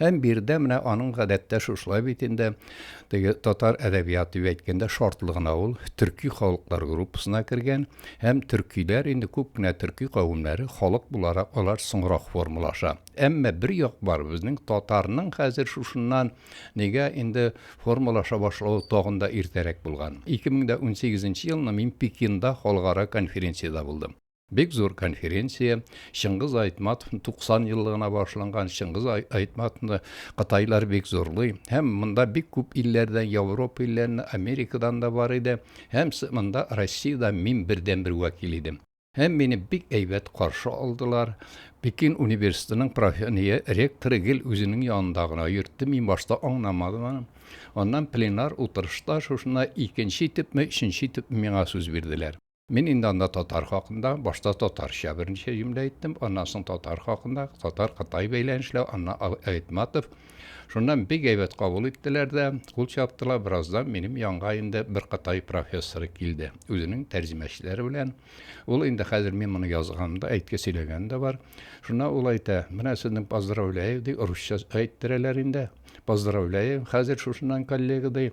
Һәм биредә менә аның гадәттә шушылай бит инде, теге татар әдәбияты дип әйткәндә шартлы гына ул төрки халыклар группасына кергән һәм төркиләр инде күп кенә төрки кавемнәре халык буларак алар соңрак формалаша. Әмма бер як бар, безнең татарның хәзер шушыннан нигә инде формалаша башлавы тагын да иртәрәк булган. 2018 елны мин Пекинда халыкара конференциядә булдым. Бик зур конференция. Чыңгыз Айтматовның 90 еллыгына башланган Чыңгыз Айтматовны кытайлар бик зурлый. Һәм монда бик күп илләрдән, Европа илләреннән, Америкадан да бар иде. Һәм монда Россиядә мин бердән бер вәкил идем. Һәм мине бик әйбәт каршы алдылар. Пекин университетының профессоры, ректоры гел үзенең янында гына йөртте. Мин башта аңламадым аны. Аннан пленар утырышта шушына икенче итепме, өченче итеп миңа сүз бирделәр. Мин инде анда татар хакында, башта татарча берничә җөмлә әйттем, аннан соң татар хакында, татар-кытай бәйләнешләү, аннан Айтматов. Шуннан бик әйбәт кабул иттеләр дә, кул чаптылар, бераздан минем янга инде бер кытай профессоры килде, үзенең тәрҗемәчеләре белән. Ул инде хәзер мин моны язганымда әйтке сөйләгән дә бар. Шуннан ул әйтә, менә сезнең поздравляю, ди, русча әйттерәләр инде, поздравляю, хәзер шушыннан коллега, ди.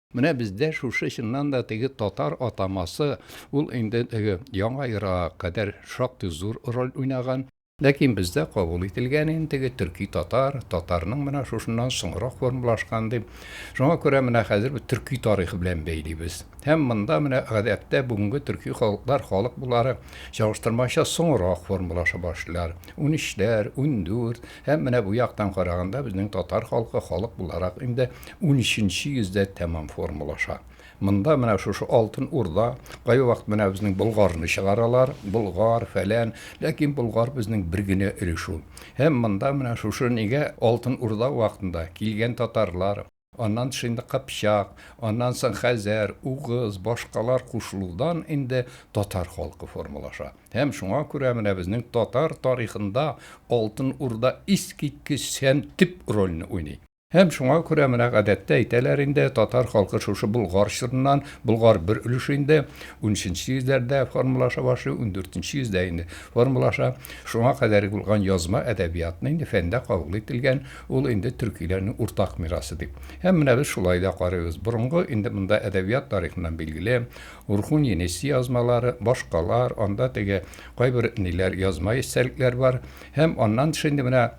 Менә бездә шушы чыннан да теге татар атамасы, ул инде теге Яңа Ера кадәр шактый зур роль уйнаган. Ләкин бездә кабул ителгән инде теге төрки-татар, татарның менә шушыннан соңрак формалашкан дип. Шуңа күрә менә хәзер без төрки тарихы белән бәйлибез. Һәм монда менә гадәттә бүгенге төрки халыклар халык булары чагыштырмача соңрак формалаша башлыйлар. Унөчләр, ундүрт, Һәм менә бу яктан караганда безнең татар халкы халык буларак инде унөченче йөздә тәмам формалаша. Монда менә шушы Алтын Урда, кайвакыт менә безнең Болгарны чыгаралар, Болгар, фәлән, ләкин Болгар безнең бер генә өлеш ул. Һәм монда менә шушы нигә Алтын Урда вакытында килгән татарлар, Аннан тыш инде Кыпчак, аннан соң Хәзәр, Угыз, башкалар кушылудан инде татар халкы формалаша. Һәм шуңа күрә менә безнең татар тарихында Алтын Урда искиткеч һәм төп рольне уйный. Һәм шуңа күрә менә гадәттә әйтәләр инде, татар халкы шушы Болгар чорыннан, Болгар бер өлеше инде унөченче йөзләрдә формалаша башлый, ундүртенче йөздә инде формалаша. Шуңа кадәр булган язма әдәбиятны инде фәндә кабул ителгән Ул инде төркиләрнең уртак мирасы дип. Һәм менә без шулай да карыйбыз. Борынгы, инде монда әдәбият тарихыннан билгеле, Урхун-Енеси язмалары, башкалар, анда теге кайбер ниләр, язма истәлекләр бар. Һәм аннан тыш инде менә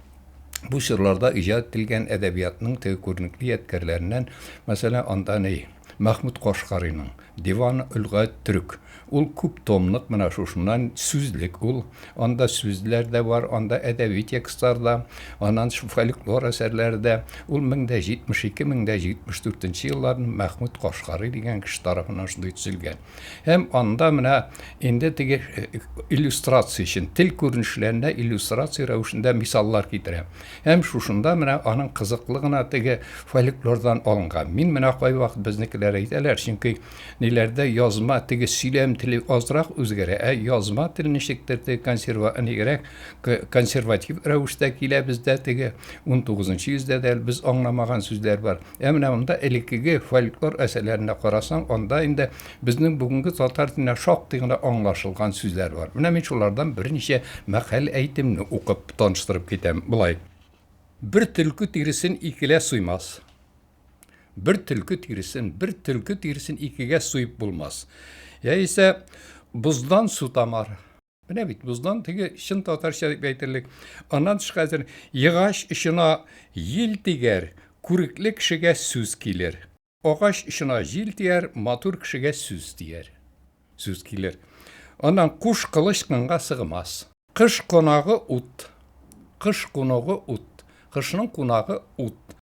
бу чорларда иҗат ителгән әдәбиятның теге күренекле ядкәрләреннән, мәсәлән, анда ни, Мәхмүт Кашкарыйның, Диван-ул-гать төрек. Ул күп томлык, менә шушыннан сүзлек ул. Анда сүзләр дә бар, анда әдәби текстлар да, аннан шул фольклор әсәрләре дә. Ул мең дә җитмеш ике, мең дә җитмеш дүртенче елларны Мәхмүт Кашкарый дигән кеше тарафыннан шундый төзелгән. Һәм анда менә инде теге иллюстрация өчен тел күренешләренә иллюстрация рәвешендә мисаллар китерә. Һәм шушында менә аның кызыклы гына теге фольклордан алынган. Мин менә кайвакыт безнекеләр әйтәләр, чөнки ниләрдә язма теге сөйләм теле азрак үзгәрә, ә язма тел ничектер теге консерва нигрәк консерватив рәвештә килә бездә теге 19 нчы йөздә дә без аңламаган сүзләр бар. Ә менә монда элеккеге фольклор әсәләренә карасаң, анда инде безнең бүгенге татар теленә шактый гына аңлашылган сүзләр бар. Менә мин шулардан берничә мәкаль әйтемне укып таныштырып китәм. Болай. Бер төлке тиресен икелә суймас. Бер төлке тиресен, бер төлке тиресен икегә суеп булмас. Яисә боздан су тамар. Менә бит боздан теге чын татарча дип әйтерлек. Аннан тыш хәзер егач очына ел тигәр, күрекле кешегә сүз килер. Агач очына җил тияр, матур кешегә сүз тияр. Сүз килер. Аннан куш кылыч кынга сыгмас. Кыш кунагы ут. Кыш кунагы ут. Кышның кунагы ут.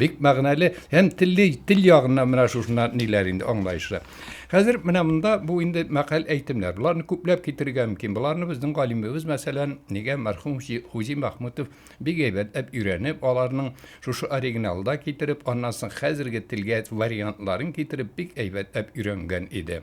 Бик мәгънәле һәм телли, тел ягыннан менә шушыннан ниләр инде аңлаешлы. Хәзер менә монда бу инде мәкаль әйтемнәр. Боларны күпләп китерергә мөмкин. Боларны безнең галимебез, мәсәлән, нигә мәрхүм Хузи Мәхмүтов бик әйбәтләп өйрәнеп, аларның шушы оригиналда китереп, аннан соң хәзерге телгә вариантларын китереп, бик әйбәтләп өйрәнгән иде.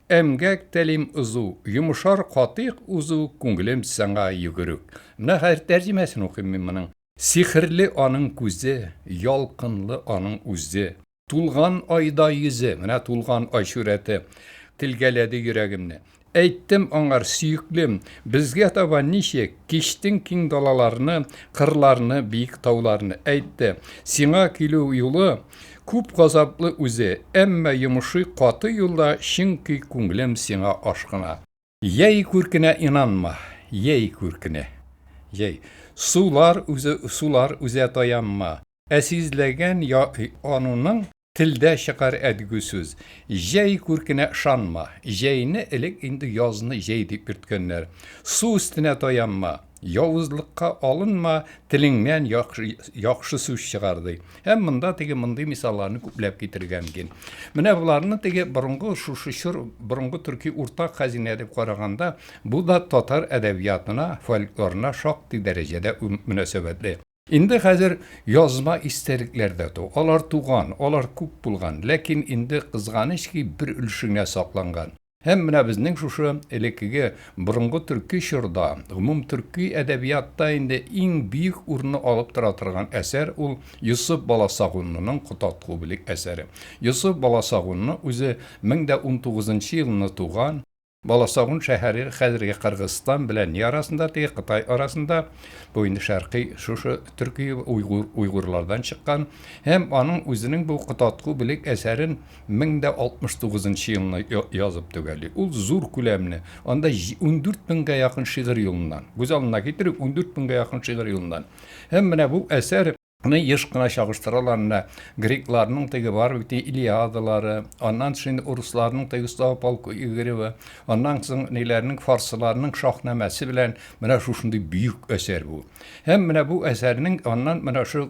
Эмгәк телим узу, йомышар катыйк узу, күңелем сиңа йөгерүк. Менә хәзер тәрҗемәсен укыйм мин моның. Сихерле аның күзе, ялкынлы аның үзе. Тулган айдай йөзе, менә тулган ай сурәте телгәләде йөрәгемне. Әйттем аңар, сөеклем, безгә таба ничек, кичтең киң далаларны, кырларны, биек тауларны. Әйтте, сиңа килү юлы, Күп газаплы үзе, әмма йомышый каты юлда Чөнки күңлем сиңа ашкына. Җәй күркенә инанма, җәй күркенә, җәй. Сулар үзе, сулар үзә таянма. Ә сизләгән я ануның Телдә чыкар әдгү сүз. Җәй күркенә ышанма, җәйне Элек инде язны җәй дип йөрткәннәр. Су өстенә таянма. Явызлыкка алынма, телеңнән яхшы сүз чыгар, ди. Һәм монда теге мондый мисалларны күпләп китерергә мөмкин. Менә боларны теге борынгы шушы чор борынгы төрки уртак хәзинә дип караганда, бу да татар әдәбиятына, фольклорына шактый дәрәҗәдә мөнәсәбәтле. Инде хәзер язма истәлекләр дә ту. Алар туган, алар күп булган, ләкин инде кызганыч ки, бер өлеше генә сакланган. Һәм менә безнең шушы элеккеге борынгы төрки чорда, гомум төрки әдәбиятта инде иң бөек урынны алып тора торган әсәр ул Йосыф Баласагунлының Котаткубли әсәре. Йосыф Баласагунлы үзе мең дә унтугызынчы елны туган. Баласагун шәһәре хәзерге Кыргызстан белән не арасында, теге Кытай арасында, бу инде шәркый шушы төрки уйгур уйгурлардан чыккан, һәм аның үзенең бу Котатку белек әсәрен 1069 нчы елны язып төгәли. Ул зур күләмле, анда ундүрт меңгә якын шигырь юлыннан, күз алдына китерик, ундүрт меңгә якын шигырь юлыннан. Һәм менә бу әсәр. Аны еш кына чагыштыралар менә грекларның теге бар бит Илиадалары, аннан соң инде урысларның теге Слава полку Игорева, аннан соң ниләрнең фарсыларның шаһнамәсе белән менә шушындый бөек әсәр бу. Һәм менә бу әсәрнең аннан менә шу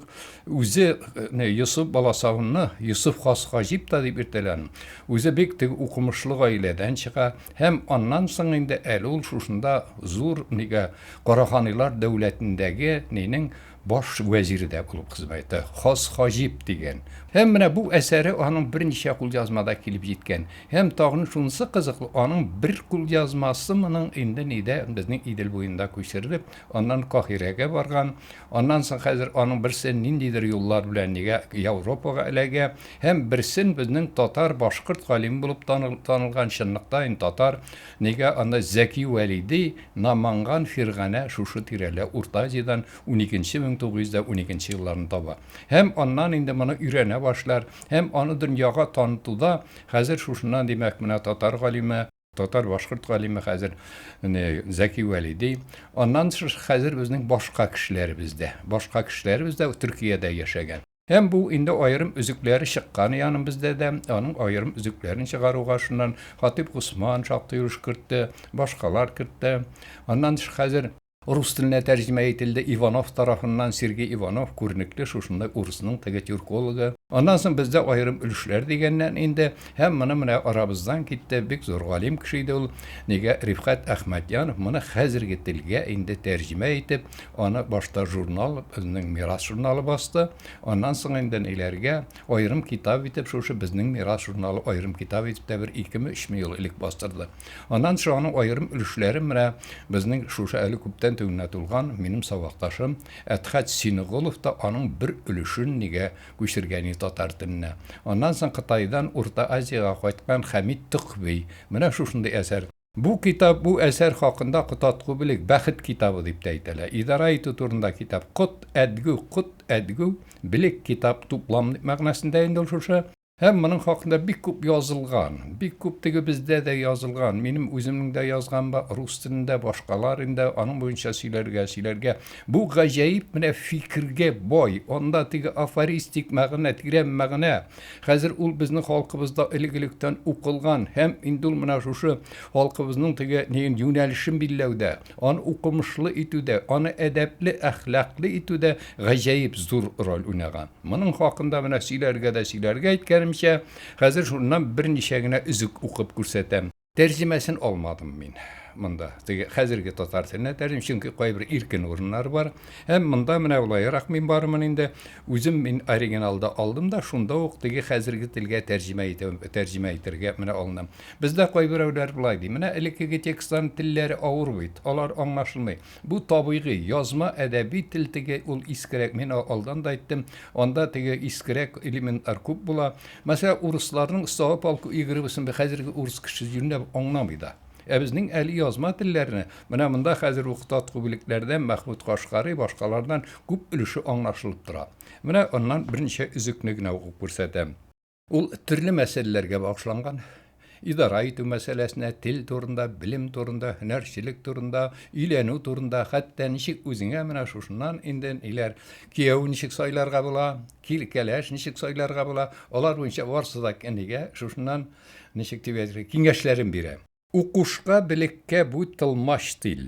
үзе э, Йосыф баласавынны Йосыф хас хаҗиб та дип иртәлән. Үзе бик теге укымышлы гаиләдән чыга һәм аннан соң инде әле ул шушында зур нигә Караханилар дәүләтендәге нинең баш вәзире дә булып хезмәт итте. Хас Хаҗип дигән. Һәм менә бу әсәре аның берничә кулъязмада килеп җиткән. Һәм тагын шунысы кызыклы, аның бер кулъязмасы моның инде нидә, безнең Идел буенда күчерелеп, аннан Каһирәгә барган. Аннан соң хәзер аның берсе ниндидер юллар белән нигә Яуропага эләгә. Һәм берсен безнең татар, башкорт галиме булып танылган, чынлыкта инде татар, Нигә аны Зәки Вәли ди, Наманган Фирганә шушы тирәлә, Урта Азиядән уникенче мең тугыз йөз дә уникенче елларны таба. Һәм аннан инде моны өйрәнә башлар, һәм аны дөньяга танытуда, хәзер шушыннан, димәк, менә татар галиме, татар-башкорт галиме хәзер не Зәки Вәли ди. Аннан тыш, хәзер безнең башка кешеләребез дә, башка кешеләребез дә Төркиядә яшәгән. Һәм бу инде аерым өзекләре чыкканы яным бездә дә, аның аерым өзекләрен чыгаруга шуннан Хатыйп Госман шактый өлеш кертте, башкалар кертте. Аннан тыш хәзер рус теленә тәрҗемә ителде Иванов тарафыннан, Сергей Иванов, күренекле шушындай урысның теге тюркологы. Аннан соң бездә аерым өлешләр дигәннән инде, һәм моны менә арабыздан китте, бик зур галим кеше иде ул, нигә Рифкать Әхмәтьянов моны хәзерге телгә инде тәрҗемә итеп, Аны башта журнал, безнең Мирас журналы басты. Аннан соң инде ниләргә, аерым китап итеп шушы безнең Мирас журналы аерым китап итеп тә бер икеме, өчме ел элек бастырды. Аннан соң аның аерым өлешләрен менә безнең шушы әле күптән тегенә тулган минем сабакташым Әдхәт Синеголов та аның бер өлешен нигә күчергәни татар теленә. Аннан соң Кытайдан Урта Азиягә кайткан Хәмит Токъви менә шушындый әсәр. Бу китап, бу әсәр хакында котат кубелек, бәхет китабы дип тә әйтәләр. Идарә итү турында китап. Кот, әдгү, кут, әдгү, белек, китап, туплам дип мәгънәсендә инде ул шушы. Һәм моның хакында бик күп язылган. Бик күп тегебездә дә язылган. Минем үземнең дә язган ба, рус телендә, башкалар инде аның буенча сөйләргә, сөйләргә. Бу гаҗәеп менә фикергә бай, анда теге афористик мәгънә, тирән мәгънә. Хәзер ул безнең халкыбызда элек-электән укылган һәм инде ул менә шушы халкыбызның теге ниен юнәлешен билләүдә, аны укымышлы итүдә, аны әдәпле, әхлаклы итүдә гаҗәеп зур роль уйнаган. Моның хакында менә сөйләргә дә сөйләргә әйткәнемчә, хәзер шуннан берничә генә өзек укып күрсәтәм. Тәрҗемәсен алмадым мин монда, теге хәзерге татар теленә тәрҗем, чөнки кайбер иркен урыннар бар. Һәм монда менә улаерак мин барымын инде. Үзем мин оригиналда алдым да, шунда ук теге хәзерге телгә тәрҗемә итәм, тәрҗемә итәргә менә алынам. Бездә кайберәүләр болай ди, менә элеккеге текстларның телләре авыр бит, алар аңлашылмый. Бу табигый, язма әдәби тел теге, ул искерәк, мин алдан да әйттем, анда теге искерәк элементлар күп була. Мәсәлән, урысларның става полку и грыбысын хәзерге урыс кешесе юньләп аңламый да. Ә безнең әле язма телләрне, менә монда хәзер үк Таткубилекләрдән, Мәхмүт Кашкарый, башкалардан күп өлеше аңлашылып тора. Менә аннан берничә өзекне генә укып күрсәтәм. Ул төрле мәсьәләләргә багышланган. Идарә итү мәсьәләсенә, тел турында, белем турында, һөнәрчелек турында, өйләнү турында, хәтта ничек үзеңә менә шушыннан инде ниләр, кияү ничек сайларга була, кил кәләш ничек сайларга була, алар буенча барысы да әнигә шушыннан ничек дип әйтергә, киңәшләрен бирә. Укушка, белеккә бу тылмач тел.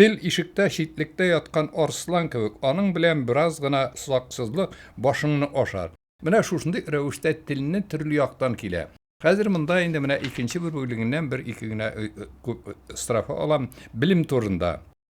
Тел ишектә читлектә яткан арслан кебек, аның белән бераз гына саксызлык, башыңны ашар. Менә шушындый рәвештә телне төрле яктан килә. Хәзер монда инде менә икенче бер бүлегеннән бер-ике генә строфа алам, белем турында.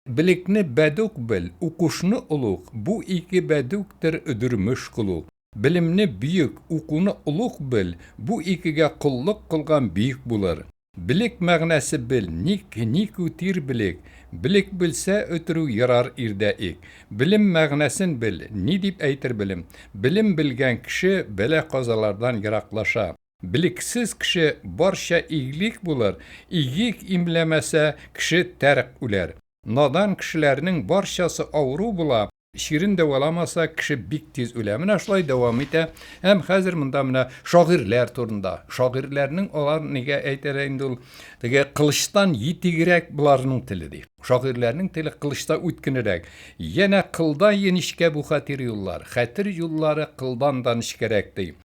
Белекне бәдүк бел, укушны олуг, бу ике бәдүктер өдермеш кылу. Белемне бөек, укуны олуг бел, бу икегә коллык кылган бөек булыр. Белек мәгънәсе бел, ник, ник үтир белек, Белек белсә, өтерү ерар ирдә ик. Белем мәгънәсен бел, ни дип әйтер белем, Белем белгән кеше бәла-казалардан ераклаша. Белексез кеше барча иглик булыр, Игик имләмәсә, кеше тәрк үләр. Надан кешеләрнең барчасы авыру була, Чирен дәваламаса, кеше бик тиз үлә. Менә шулай дәвам итә. Һәм хәзер монда менә шагыйрьләр турында. Шагыйрьләрнең алар нигә әйтәләр инде ул теге кылычтан етигрәк боларның теле ди. Шагыйрьләрнең теле кылычта үткенерәк. Янә кылда еничкә бу хәтер юллар. Хәтер юллары кылдан да нечкәрәк ди.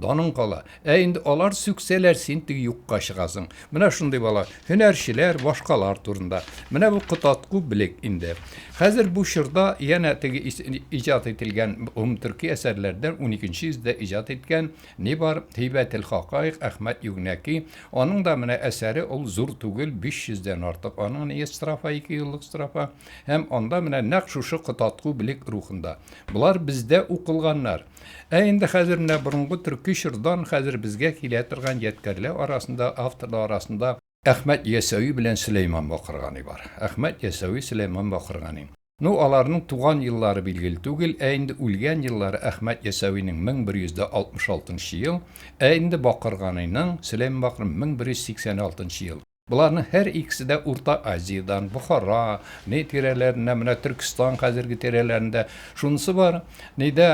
Даның кала. Ә инде алар сүксәләр, син теге юкка чыгасың. Менә шундый бала. Һөнәрчеләр, башкалар турында. Менә бу кототку белек инде. Хәзер бу чорда янә теге иҗат ителгән гомумтөрки әсәрләрдән уникенче йөздә иҗат иткән ни бар, Һәйбәтелхакаик, Әхмәт Югнәки. Аның да менә әсәре ул зур түгел, биш йөздән артык аның ние строфа, ике юллык строфа. Һәм анда менә нәкъ шушы кототку белек рухында. Болар бездә укылганнар. Ә инде хәзер менә борынгы төрки чордан хәзер безгә килә торган ядкәрләр арасында, авторлар арасында Әхмәт Ясәви белән Сөләйман Бакыргани бар. Әхмәт Ясәви, Сөләйман Бакыргани. Ну, аларның туган еллары билгеле түгел, ә инде үлгән еллары Әхмәт Ясәвинең 1166 нчы ел, ә инде Бакырганиның, Сөләйман Бакырганиның 1186 нчы ел. Боларның һәр икесе дә Урта Азиядән, Бохара, не тирәләреннән, менә Төркестан хәзерге тирәләрендә. Шунысы бар, нидә,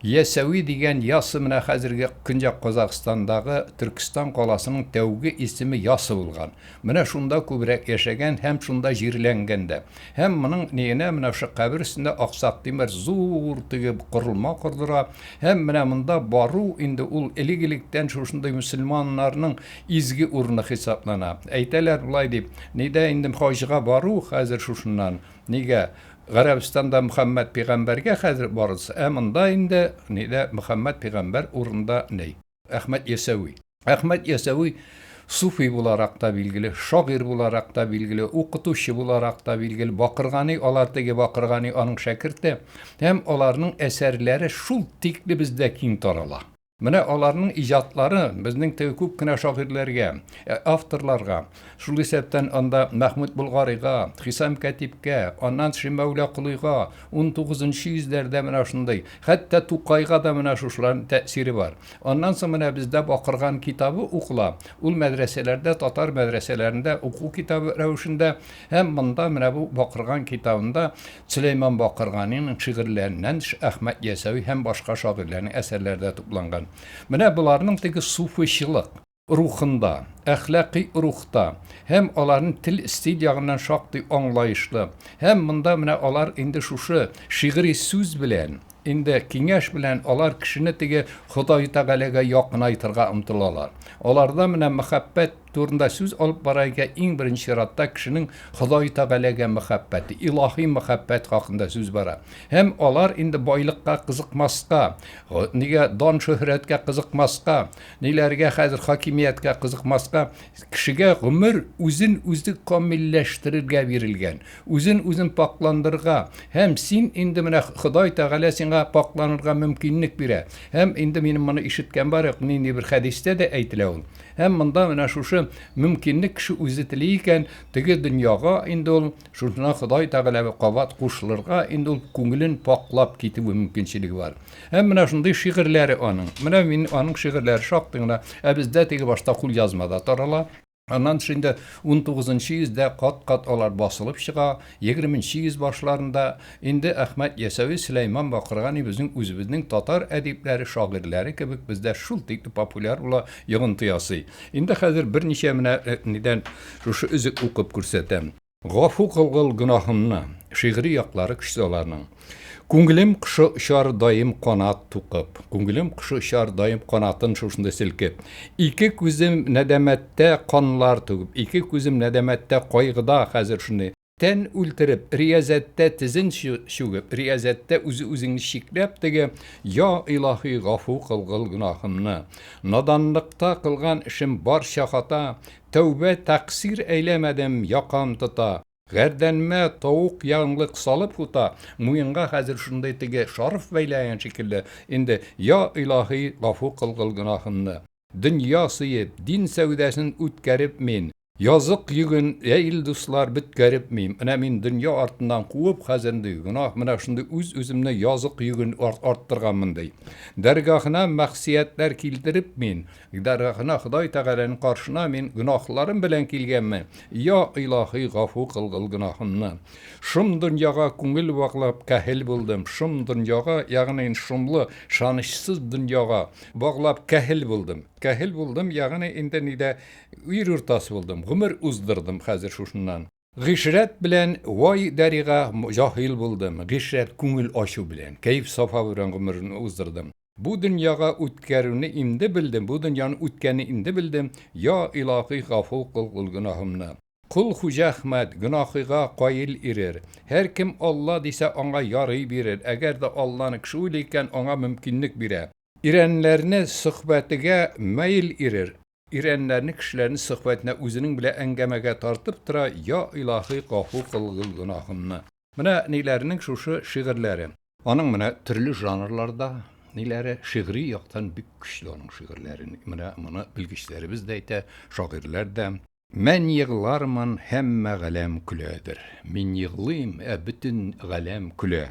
Ясәви дигән Ясы менә хәзерге Көньяк Казакъстандагы Төркестан каласының тәүге исеме Ясы булган. Менә шунда күбрәк яшәгән һәм шунда җирләнгән дә. Һәм моның ниенә менә шушы кабер өстендә аксак тимер зур теге корылма кордыра. Һәм менә монда бару инде ул элек-электән шушындый мөселманнарның изге урыны хисаплана. Әйтәләр болай дип, нидә инде хаҗга бару хәзер шушыннан, нигә, Гарәбстанда Мөхәммәд пигамбәргә хәзер барыгыз, ә монда инде, нидә, Мөхәммәд пигамбәр урында ни. Әхмәт Ясәви. Әхмәт Ясәви суфи буларак та билгеле, шагыйрь буларак та билгеле, укытучы буларак та билгеле. Бакыргани, алар теге Бакыргани аның шәкерте һәм аларның әсәрләре шул тикле бездә киң тарала. Менә аларның иҗатлары безнең теге күп кенә шагыйрьләргә, авторларга, Шул исәптән анда Мәхмүт Болгарига, Хисам Кәтибкә, аннан Шимәүлә Колыйга, унтугызынчы йөзләрдә менә шундый, хәтта Тукайга да менә шушыларның тәэсире бар. Аннан соң менә бездә Бакырган китабы укыла, ул мәдрәсәләрдә, татар мәдрәсәләрендә уку китабы рәвешендә һәм монда менә бу Бакырган китабында Сөләйман Бакырганиның шигырьләреннән тыш Әхмәт Ясәви һәм башка шагыйрьләрнең әсәрләре дә тупланган. Менә боларның теге суфыйчылык. рухында, әхлакый рухта һәм аларны тел-стиль ягыннан шактый аңлаешлы һәм монда менә алар инде шушы шигъри сүз белән, инде киңәш белән алар кешене теге Ходай Тәгаләгә якынайтырга омтылалар. Аларда менә мәхәббәт турында сүз алып бара икән, иң беренче чиратта кешенең Ходай Тәгаләгә мәхәббәте, илаһи мәхәббәт хакында сүз бара. Һәм алар инде байлыкка кызыкмаска, нигә дан-шөһрәткә кызыкмаска, Ниләргә хәзер хакимияткә кызыкмаска, кешегә гомер үзен үзе камилләштерергә бирелгән, үзен үзен пакъландырырга, һәм син инде менә Ходай Тәгалә сиңа пакъланырга мөмкинлек бирә, һәм инде минем моны ишеткән бар юк, нинди бер хәдистә дә әйтелә ул, һәм монда менә шушы мөмкинлек кеше үзе тели икән, теге дөньяга инде ул шушына Ходай Тәгаләгә кабат кушылырга инде ул күңелен пакълап китүе мөмкинчелеге бар. Һәм менә шундый шигырьләре аның. Менә мин аның шигырьләре шактый гына. Ә бездә теге башта кулъязмада тарала. Аннан тыш инде 19 йөздә кат-кат алар басылып чыга, 20 йөз башларында инде Әхмәт Ясәви, Сөләйман Бакырга ни безнең үзебезнең татар әдипләре, шагыйрьләре кебек бездә шул тикле популяр була, йогынты ясый. Инде хәзер берничә менә нидән шушы өзек укып күрсәтәм. Гафу кылгыл гөнаһымны. Шигъри яклары көчсез аларның. Күңелем кошы очар даим канат тукып. Күңелем кошы очар даим канатын шушында селкеп. Ике күзем нәдәмәттә канлар түгеп. Ике күзем нәдәмәттә кайгыда хәзер шуны. Тән үлтереп, риязәттә тезен чүгеп, риязәттә үзе-үзеңне чикләп теге, Йа Илаһи, гафу кылгыл гөнаһымны. Наданлыкта кылган эшем барча хата, Тәүбә тәкъсир әйләмәдем, якам тота. Гәрдәнмә тавык янлык салып ута. Муенга хәзер шундый теге шарф бәйләгән шикелле инде, Йа Илаһи, гафу кылгыл гөнаһымны. Дөнья сөеп, дин сәүдәсен үткәреп мин, Язык йөген, йә ил дуслар, бөткәреп мим. Менә мин дөнья артыннан куып хәзер ди, Гөнаһ менә шундый үз үземне язык йөген арттырганмын ди. Дәргаһына мәгъсиятләр килтереп мин, Дәргаһына, Ходай Тәгаләнең каршына мин гөнаһларым белән килгәнмен. Йа Илаһи, гафу кылгыл гөнаһымны. Шом дөньяга күңел баглап кәһел булдым. Шом дөньяга, ягъни шомлы, шанычсыз дөньяга баглап кәһел булдым. Кәһел булдым, ягъни инде нидә, ир уртасы булдым. Гомер уздырдым хәзер шушыннан. Гыйшрәт белән Вай Дәрига җаһил булдым, Гыйшрәт күңел ачу белән, Кәеф-сафа белән гомерен уздырдым. Бу дөньяга үткәрүне инде белдем, Бу дөньяны үткәнне инде белдем, Йа Илаһи гафу кыл кул гөнаһымны. Кол Хуҗа Әхмәт, гөнаһыга каил ирер. Һәркем Алла дисә, аңа ярый бирер, Әгәр дә Алланы кеше уйлый икән, аңа мөмкинлек бирә. Ирәннәрне сөхбәтегә мәел ирер. Ирәнләрне кешеләрне сөхбәтенә үзенең белә әңгәмәгә тартып тора Я илаһи гафу кыл гүнахымны. Менә ниләренең шушы шигырьләре. Аның менә төрле жанрларда ниләре, шигъри яктан бик көчле аның шигырьләре. Менә моны белгечләребез дә әйтә, шагыйрьләр дә. Мән еглармын, һәммә галәм көләдер. Мин еглыйм, ә бөтен галәм көлә.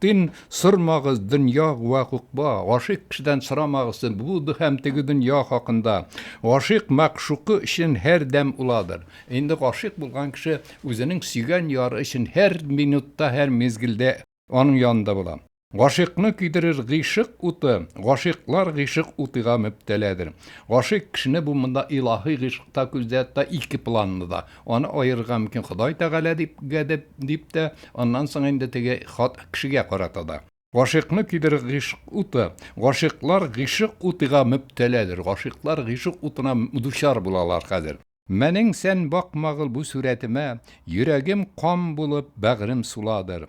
Тын сормагыз дөнья вә гукба, гашыйк кешедән сорамагыз бу һәм теге дөнья хакында. Гашыйк мәгъшукы өчен һәрдәм уладыр. Инде гашыйк булган кеше үзенең сөйгән яры өчен һәр минутта, һәр мизгелдә аның янында була. Гашыйкны көйдерер гыйшык уты, гашыйклар гыйшык утыга мөбтәләдер. Гашыйк кешене бу монда илаһи гыйшык та күздә тота, ике планлы да. Аны аерырга мөмкин Ходай Тәгалә дип гәдеп, дип тә, аннан соң инде теге хат кешегә карата да. Гашыйкны көйдерер гыйшык уты. Гашыйклар гыйшык утыга мөбтәләдер, гашыйклар гыйшык утына дучар булалар хәзер. Мәнең сән бакмагыл бу сүрәтемә, Йөрәгем кан булып, бәгърем суладыр.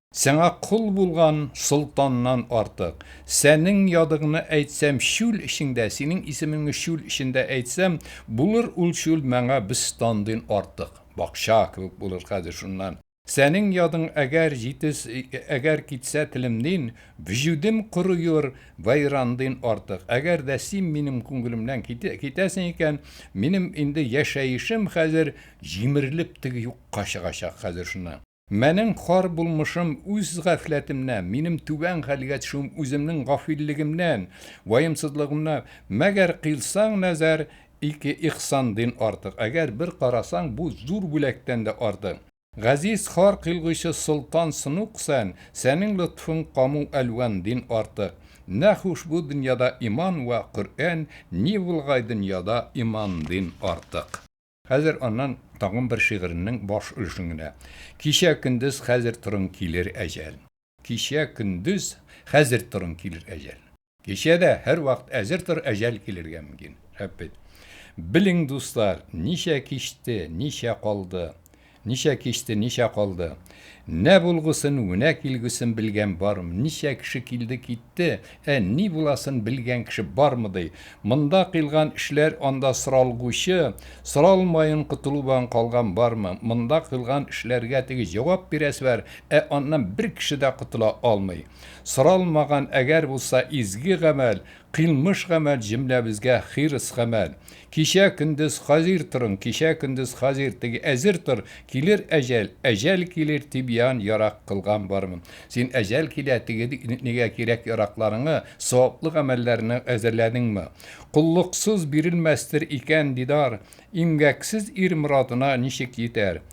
Сиңа кол булган солтаннан артык. Сәнең ядыгны әйтсәм, чүл эчеңдә, синең исемеңне чүл эчендә әйтсәм, булыр ул чүл мәңа бөстандин артык. Бакча кебек булыр хәзер шуннан. Сәнең ядың әгәр җитез, әгәр китсә телемнин, вөҗүдем коруер вәйрандин артык. Әгәр дә син минем күңелемнән китәсең икән, минем инде яшәешем хәзер җимерелеп теге юкка чыгачак хәзер шуннан. Менең хор булмышым үз гафләтемнән, минем түбән хәлгә төшүем үземнең гафиллегемнән, ваемсызлыгымнан. Мәгәр кыйлсаң нәзәр, ике ихсан дин артык, әгәр бер карасаң, бу зур бүләктән дә артык. Газиз хор кыйлгычы солтан сынук сән, сәнең лотфың каму әлван дин артык. Нә хуш бу дөньяда иман вә Коръән, ни булгай дөньяда иман дин артык. Хәзер аннан тагын бер шигыреннең баш өлешен генә. Кичә көндез хәзер торын килер әҗәл. Кичә көндез хәзер торын килер әҗәл. Кичә дә һәрвакыт әзер тор әҗәл килергә мөмкин. Шәп бит. Белең, дуслар, ничә кичте, ничә калды. Ничә кичте, ничә калды. Нә булгусын, внә килгусен белгән бармы, ничә кеше килде, китте, ә ни буласын белгән кеше бармы ди. Монда кыйлган эшләр анда соралгучы, соралмаен котылубан калган бармы, монда кыйлган эшләргә теге җавап бирәсе бар, ә аннан бер кеше дә котыла алмый. Соралмаган әгәр булса изге гамәл, Кыйлмыш гамәл җөмләбезгә хирыс гамәл. Кичә, көндез, хазир торын, кичә, көндез, хазир, теге, әзер тор, килер әҗәл, әҗәл килер, тибьян, ярак кылган бармы? Син әҗәл килә, теге, нигә кирәк яракларыңы, саваплы гамәлләрне әзерләдеңме? Коллыксыз бирелмәстер икән дидар, имгәксез ир морадына ничек йитәр?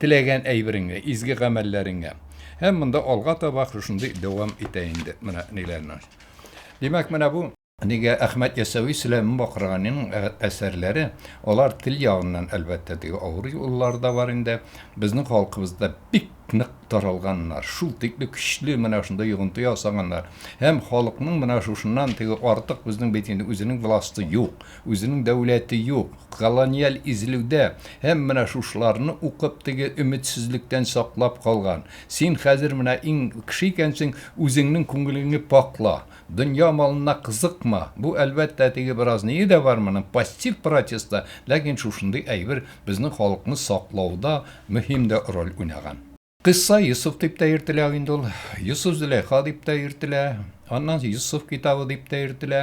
Теләгән әйбереңә, изге гамәлләреңә. Һәм монда алга таба шушындый дәвам итә инде. Менә ниләрне. Димәк, менә бу. Нигә Әхмәт Ясәви Сөләйман Бакырганиның әсәрләре, алар тел ягыннан, әлбәттә, теге авыр юллары да бар инде, безнең халкыбызда бик нык таралганнар, шул тикле көчле менә шунда йогынты ясаганнар. Һәм халыкның менә шушыннан теге артык безнең бит инде үзенең власты юк. Үзенең дәүләте юк, колониаль изелүдә, һәм менә шушыларны укып теге өметсезлектән саклап калган. Син хәзер менә иң кеше икәнсең, үзеңнең күңелеңне пакла. Дөнья малына кызыкма. Бу, әлбәттә, теге беразнее дә бар моның, пассив протест та, ләкин шушындый әйбер безнең халыкны саклауда мөһим дә роль уйнаган. Кыйсса Йосыф дип тә йөртелә инде ул. Йосыф Зөләйха дип тә йөртелә. Аннан Йосыф китабы дип тә йөртелә.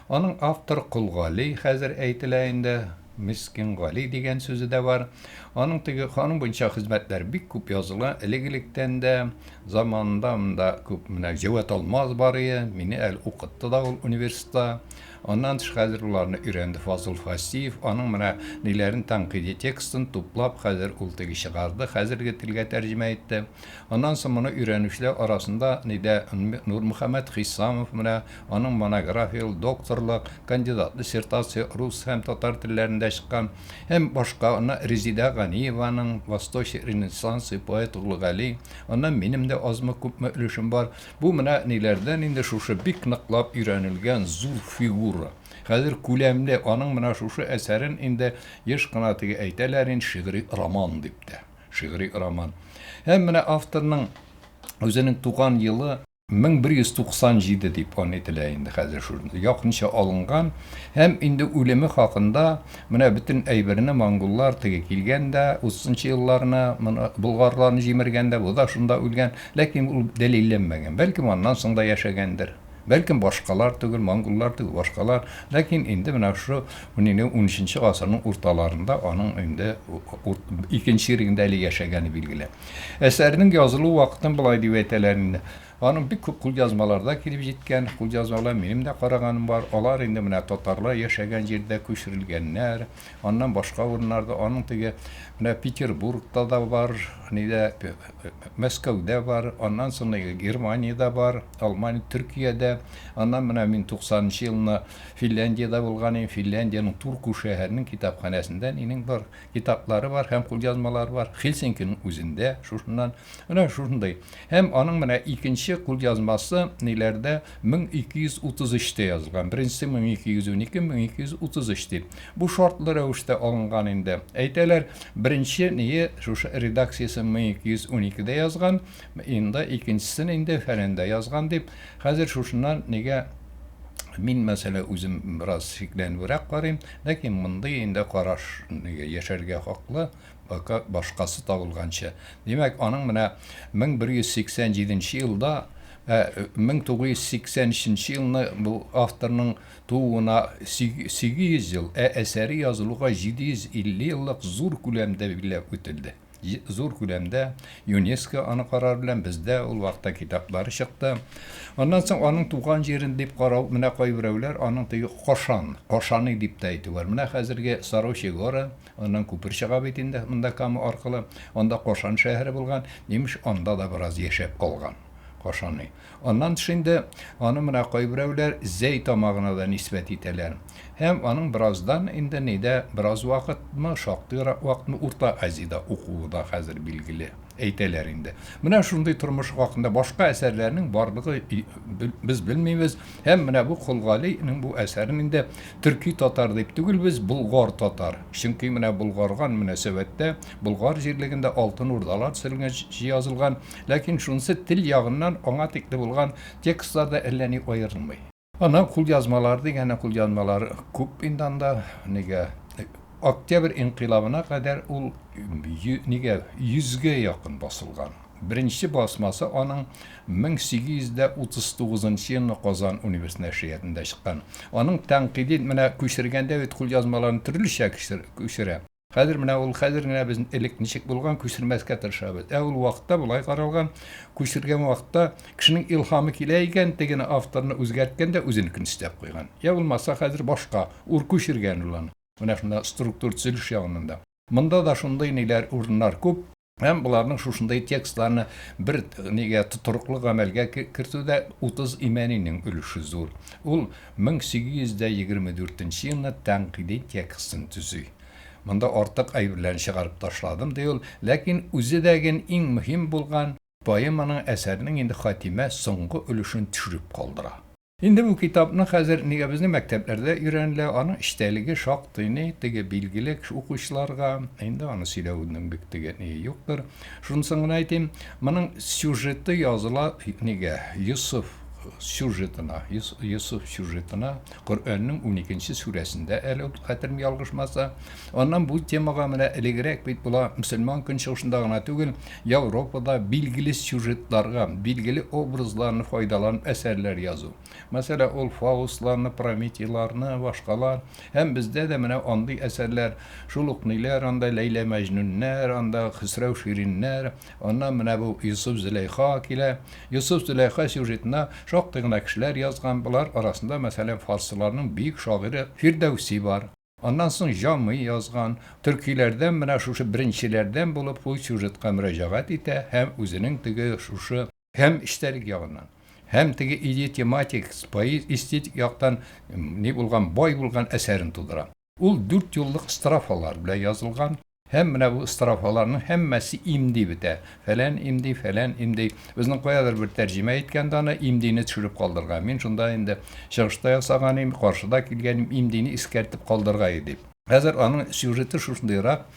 Аның автор Кол Гали хәзер әйтелә инде. Мискин Гали дигән сүзе дә бар. Аның теге аның буенча хезмәтләр бик күп языла элек-электән дә. Заманында монда күп менә Җәвәт Алмаз бар ие, мине әле укытты да ул университетта. Аннан тыш хәзер уларны өйрәнде Фазыл Фасиев, аның менә ниләрен тәнкыйди текстын туплап хәзер ул теге чыгарды, хәзерге телгә тәрҗемә итте. Аннан соң моны өйрәнүчеләр арасында нидә Нурмөхәммәт Хисамов менә аның монографияле докторлык, кандидат диссертация рус һәм татар телләрендә чыккан һәм башка аннан Резидә Ганиеваның Восточи ренессансы поэт Улыгали, аннан минем дә азмы-күпме өлешем бар. Бу менә ниләрдән инде шушы бик ныклап өйрәнелгән зур фигура. Хәзер күләмле, аның менә шушы әсәрен инде еш кына теге әйтәләр инде шигъри роман дип тә. Шигъри роман. Һәм менә авторның үзенең туган елы. 1197 дип аны әйтелә инде хәзер шул якынча алынган. Һәм инде үлеме хакында менә бөтен әйберне монголлар теге килгән дә, утызынчы елларны моны болгарларны җимергәндә, бу да шунда үлгән. Ләкин ул дәлилләнмәгән. Бәлкем аннан соң да яшәгәндер. Бәлкем башкалар түгел, монголлар түгел, башкалар. Ләкин инде менә шушы унине унөченче гасырның урталарында аның инде икенче ирегендә әле яшәгәне билгеле. Әсәрнең язылу вакытын болай дип әйтәләр инде, аның бик күп кулъязмаларда килеп җиткән, кулъязмалар минем дә караганым бар, алар инде менә татарлар яшәгән җирдә күчерелгәннәр, аннан башка урыннарда, аның теге менә Петербургта да бар, нидә, Мәскәүдә бар, аннан соң Германиядә бар, Алмания, Төркиядә, аннан менә мин 90 нчы елны Финляндиядә булган идем, Финляндиянең Турку шәһәренең китапханәсендә нинең бар, китаплары бар һәм кулъязмалары бар, Хельсинкиның үзендә шушыннан Менә шушындый. Һәм аның менә икенче кулъязмасы ниләрдә 1233 тә язылган. Беренчесе 1212, 1233 дип. Бу шартлы рәвештә алынган инде. Әйтәләр, беренче ние шушы редакциясен 1212 дә язган, инда икенчесен инде фәләндә язган дип. Хәзер шушыннан нигә мин мәсьәлә үзем бераз шикләнүрәк карыйм, ләкин мондый инде караш нигә яшәргә хаклы, Пока башкасы табылганчы. Димәк, аның менә 1187 нче елда, ә 1983 нче елны бу авторның тууына 800 ел, ә әсәре язылуга 750 еллык зур күләмдә билгеләп үтелде. Зур күләмдә ЮНЕСКО аны карар белән бездә ул вакытта китаплары чыкты. Аннан соң аның туган җирен дип карау, менә кайберәүләр аның теге Кошан, Кошаный дип тә әйтү бар. Менә хәзерге Сорочи горы, Аннан күпер чыга бит инде монда Кама аркылы. Анда Кашан шәһәре булган. Имеш, анда да бераз яшәп калган Кашаный. Аннан тыш инде аны менә кайберәүләр Зәй тамагына да нисбәт итәләр. Һәм аның бераздан инде нидә бераз вакытмы, шактыйрак вакытмы Урта Азиядә укуы да хәзер билгеле. Әйтәләр инде. Менә шундый тормышы хакында башка әсәрләрнең барлыгы без белмибез һәм менә бу Кол Гали нең бу әсәрен инде төрки татар дип түгел без, болгар татар, чөнки менә болгарган мөнәсәбәттә Болгар җирлегендә Алтын Урдалар төзелгән җязылган, ләкин шунысы тел ягыннан аңа тикле булган текстларда әллә ни аерылмый. Ана кулъязмалары дигәне кулъязмалар күп инде анда, нигә, Октябрь инкыйлабына кадәр ул нигә, йөзгә якын басылган. Беренче басмасы аның 1839 елны Казан универс нәшриятында чыккан. Аның тәнкыйди, менә күчергәндә бит кулъязмаларын төрлечә күчерә. Хәзер менә ул хәзер генә без элек ничек булган күчермәскә тырышабыз. Ә ул вакытта болай каралган, күчергән вакытта кешенең илһамы килә икән, тегене авторны үзгәрткән дә үзенекен өстәп куйган. Йә булмаса хәзер башка ур күчергән ул аны. Менә шунда структур төзелеш ягыннан да. Монда да шундый ниләр, урыннар күп. Һәм боларның шушындай текстларны бер нигә тотрыклы гамәлгә кертүдә Утыз Имәнинең өлеше зур. Ул 1824 елны тәнкыйди текстын төзи. Монда артык әйберләрне чыгарып ташладым, ди ул, ләкин үзе дә ген иң мөһим булган поэманың әсәрнең инде хатимә, соңгы өлешен төшереп калдыра. Инде бу китапны хәзер нигә безнең мәктәпләрдә өйрәнелә, аның эчтәлеге шактый ни теге билгеле кеше укучыларга, инде аны сөйләүнең бик теге ние юктыр. Шунысын гына әйтим, моның сюжеты языла нигә, Йосыф сюжетына, Йосыф сюжетына, Коръәннең уникенче сүрәсендә әле ул, хәтерем ялгышмаса. Аннан бу темага менә элегрәк бит була, мөселман көнчыгышында гына түгел, Европада билгеле сюжетларга, билгеле образларны файдаланып әсәрләр язу. Мәсәлән, ул Фаустларны, Прометейларны, башкалар. Һәм бездә дә менә андый әсәрләр, шул ук ниләр анда, Ләйлә-Мәҗнүннәр, анда Хөсрәү-Шириннәр, аннан менә бу Йосыф-Зөләйха килә. Йосыф-Зөләйха сюжетына шактый гына кешеләр язган, болар арасында, мәсәлән, фарсыларның бөек шагыйре Фирдәүси бар. Аннан соң Җамый язган төркиләрдән менә шушы беренчеләрдән булып бу сюжетка мөрәҗәгать итә һәм үзенең теге шушы һәм эчтәлек ягыннан, һәм теге идеотематик, пои эстетик яктан ни булган, бай булган әсәрен тудыра. Ул дүртьюллык строфалар белән язылган. Һәм менә бу строфаларның һәммәсе имди бетә. Фәлән имди, фәлән имди. Безнең каядыр бер тәрҗемә иткән дә аны имдине төшереп калдырган. Мин шунда инде чыгышта ясаган идем, каршыда килгәнем имдине искәртеп калдыргай иде. Хәзер аның сюжеты шушындыйрак.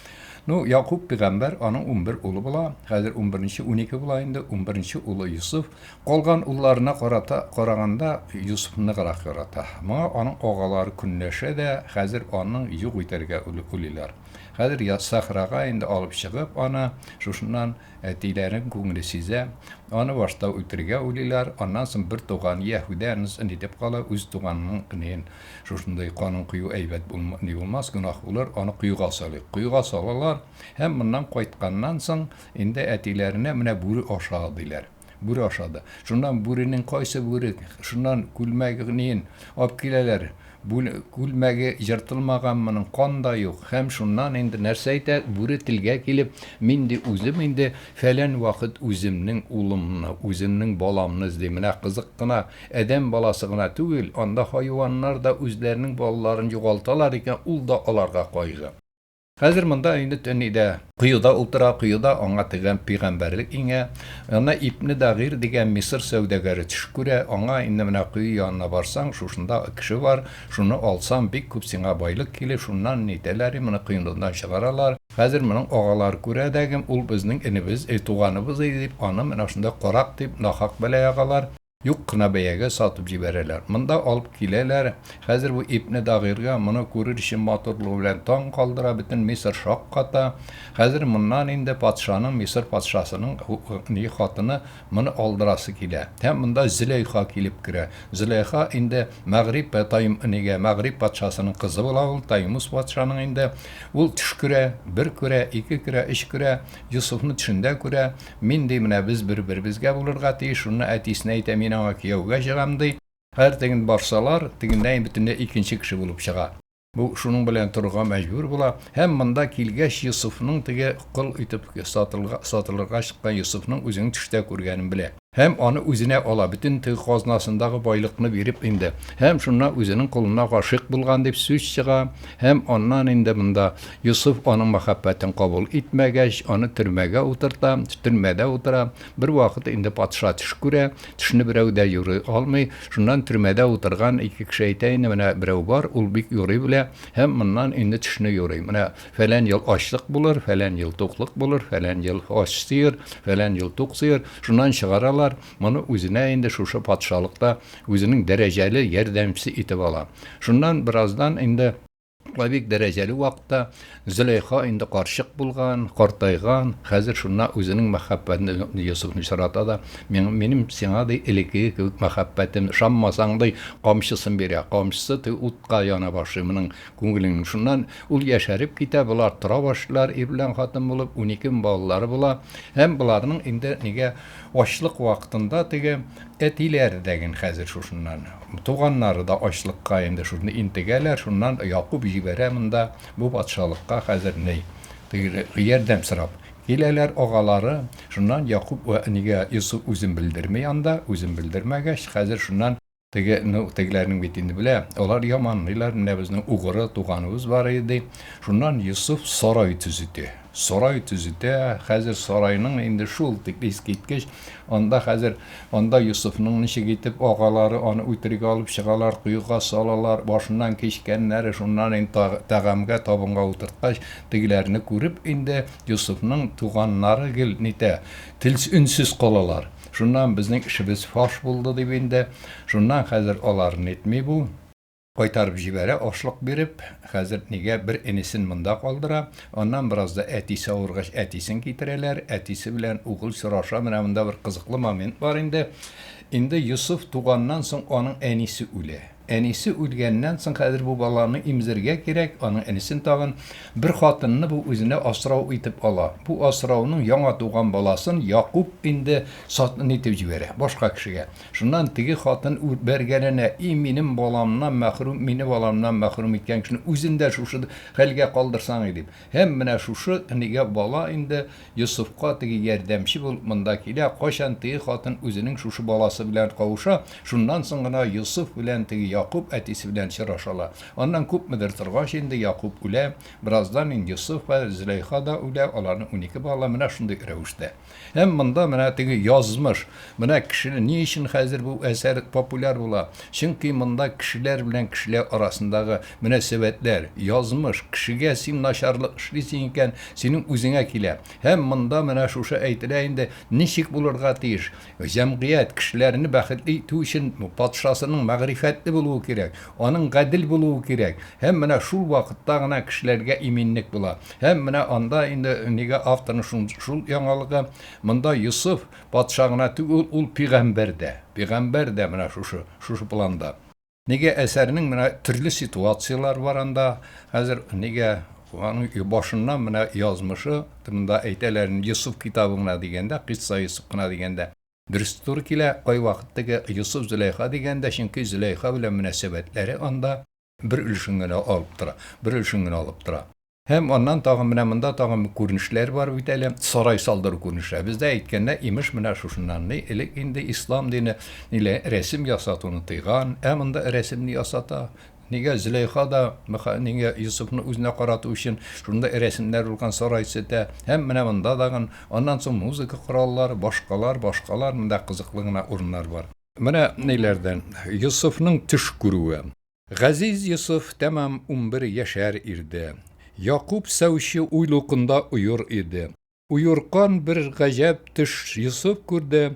Ну, Якуб пигамбәр, аның унбер улы була. Хәзер унберенче, унике була инде. Унберенче улы Йосыф. Калган улларына карата караганда, Йосыфны ныграк ярата. Моңа аның агалары көнләшә дә, хәзер аның юк итәргә уйлыйлар. Хәзер яссахрага инде алып чыгып аны, шушыннан әтиләренең күңеле сизә, аны башта үтерергә уйлыйлар, аннан соң бер туган яһүдә нысын итеп кала, үз туганының энеен шушындый канын кою әйбәт булм, ни булмас, гөнаһ булыр, аны коега салыйк. Коега салалар һәм моннан кайтканнан соң инде әтиләренә менә бүре аша, диләр. Бүре ашады. Шуннан бүренең кайсы бүре, шуннан күлмәгнеен алып киләләр. Бүл, күлмәге ертылмаган моның, кан да юк. Һәм шуннан инде нәрсә әйтә, бүре телгә килеп, мин ди үзем инде фәлән вакыт үземнең улымны, үземнең баламны эзлим. Менә кызык кына, адәм баласы гына түгел, анда хайваннар да үзләренең балаларын югалталар икән, ул да аларга кайгы. Хәзер монда инде төн иде. Коеда утыра, коеда аңа тегән пигамбәрлек иңә. Ана Ибне Дагыйр дигән Мисыр сәүдәгәре төш күрә, аңа, Инде менә кое янына барсаң, шушында кеше бар, шуны алсаң, бик күп сиңа байлык килер, шуннан ни итәләр, моны коенудан чыгаралар. Хәзер моның агалары күрә дә, Ул безнең энебез, туганыбыз иде, дип, аны менә шунда карак дип, нахак бәла ягалар. Юк кына бәягә сатып җибәрәләр. Монда алып киләләр. Хәзер бу ипне Дагыйрга, моны күрер өчен матурлыгы белән таң калдыра, бөтен Мисыр шакката. Хәзер моннан инде патшаның, Мисыр патшасының хатыны моны алдырасы килә. Һәм монда Зөләйха килеп керә. Зөләйха инде мәгърип Таймнигә, мәгърип патшасының кызы була ул, Таймус патшаның инде. Ул төш күрә, бер күрә, ике күрә, өч күрә, Йосыфны төшендә күрә. Мин, ди, менә без бер-беребезгә булырга тиеш, шунда әтисенә әйтә, мин аңа кияүгә чыгам, ди. Хәзер теген барсалар, тегеннән бөтенләй икенче кеше булып чыга. Бу шуның белән торырга мәҗбүр була. Һәм монда килгәч, Йосыфның теге кол итеп сатылга, сатылырга чыккан Йосыфның үзен төштә күргәнен белә. Һәм аны үзенә ала, бөтен теге казнасындагы байлыкны биреп инде. Һәм шуннан үзенең колына гашыйк булган дип сүз чыга. Һәм аннан инде монда Йосыф аның мәхәббәтен кабул итмәгәч, аны төрмәгә утырта. Төрмәдә утыра. Бервакыт инде патша төш күрә. Төшне берәү дә юрый алмый. Шуннан төрмәдә утырган ике кеше әйтә инде, менә берәү бар, ул бик юрый белә һәм моннан инде төшне юрый. Менә фәлән ел ачлык булыр, фәлән ел туклык булыр, фәлән ел ач сыер, фәлән ел тук сыер. Шуннан чыгаралар. Моны үзенә инде шушы патшалыкта үзенең дәрәҗәле ярдәмчесе итеп ала. Шуннан бераздан инде. Ла бик дәрәҗәле вакытта Зөләйха инде карчык булган, картайган, хәзер шунда үзенең мәхәббәтен Йосыфны чарата да, минем сиңа ди элекеге кебек мәхәббәтем, шаммасаң ди камчысын бирә, камчысы ди утка яна башлый моның күңелен. Шуннан ул яшәреп китә, болар тора башлар, ир белән хатын булып, унике балалары була. Һәм боларның инде нигә ачлык вакытында теге Әтиләре дә ген хәзер шушыннан. Туганнары да ачлыкка инде шушында интегәләр, шуннан Якуб җибәрә монда, бу патшалыкка хәзер ни, теге, ярдәм сорап. Киләләр агалары, шуннан Якуб вә әнигә Йосыф үзен белдерми анда, үзен белдермәгәч, хәзер шуннан теге, ну, тегеләрнең бит инде белә, алар яманлыйлар, менә безнең угры туганыбыз бар иде, ди. Шуннан Йосыф сарай төзетә. Сарай төзетә, хәзер сарайның инде шул тик искиткеч, анда хәзер, анда Йосыфның ничек итеп агалары аны үтерүгә алып чыгалар, коега салалар, башыннан кичкәннәре, шуннан инде та тәгамгә, табынга утырткач, тегеләрне күреп инде Йосыфның туганнары гел нитә, телс өнсез калалар. Шуннан безнең эшебез фаш булды дип инде, шуннан хәзер алар нитми бу. Кайтарып җибәрә, ашлык биреп. Хәзер нигә бер энесен монда калдыра. Аннан беразда әтисе авыргач, әтисен китерәләр. Әтисе белән угыл сораша. Менә монда бер кызыклы момент бар инде. Инде Йосыф туганнан соң аның әнисе үлә. Әнисе үлгәннән соң хәзер бу баланы имзергә кирәк, аның энесен тагын. Бер хатынны бу үзенә асрау итеп ала. Бу асрауның яңа туган баласын Якуб инде сатын итеп җибәрә, башка кешегә. Шуннан теге хатын бәргәләнә, И, минем баламнан мәхрүм, мине баламнан мәхрүм иткән кешене үзен дә шушы хәлгә калдырсаң иде, дип. Һәм менә шушы нигә бала инде Йосыфка теге ярдәмче булып монда килә, кайчан теге хатын үзенең шушы баласы белән кавыша, шуннан соң гына Йосыф белән теге Якуб әтисе белән чырашалар. Аннан күпмедер торгач инде Якуб үлә, бераздан инде Йосыф һәм Зөләйха да үлә, аларның унике балалары менә шундый рәвештә. Һәм монда менә теге язмыш. Менә кешене ни өчен хәзер бу әсәр популяр була? Чөнки монда кешеләр белән кешеләр арасындагы мөнәсәбәтләр, язмыш, кешегә син начарлык эшлисең икән, синең үзеңә килә. Һәм монда менә шушы әйтелә инде, ничек булырга тиеш? Җәмгыять, кешеләрне бәхетле итү өчен патшасының мәгърифәтле булуы кирәк. Аның гадел булуы кирәк. Һәм менә шул вакытта гына кешеләргә иминлек була. Һәм менә анда инде нигә авторның шун шул яңалыгы, монда Йосыф патша гына түгел, ул пигамбәр дә. Пигамбәр дә менә шушы, шушы планда. Нигә әсәрнең менә төрле ситуацияләр бар анда, хәзер нигә аның башыннан менә язмышы, монда әйтәләр, Йосыф китабы гына дигәндә, Кыйсса Йосыф кына дигәндә. Дөрес туры килә, кайвакыт теге Йосыф Зөләйха дигән дә, чөнки Зөләйха белән мөнәсәбәтләре анда бер өлешен генә алып тора, бер өлешен генә алып тора. Һәм аннан тагын менә монда тагын бер күренешләр бар бит әле, сарай салдыру күренешләре. Бездә әйткәндә, имеш, менә шушыннан ни, элек инде ислам дине нилә, рәсем ясатуны тыйган, ә монда рәсемне ясата. Нигә Зөләйха да, мха, нигә Йосыфны үзенә карату өчен шундый рәсемнәр булган сарай сетә, һәм менә монда тагын, аннан соң музыка кораллары, башкалар, башкалар, монда кызыклы гына урыннар бар. Менә ниләрдән, Йосыфның төш күрүе. Газиз Йосыф тәмам унбер яшәр ирде. Якуб сәүче уйлукында оер иде. Уеркан бер гаҗәп төш Йосыф күрде,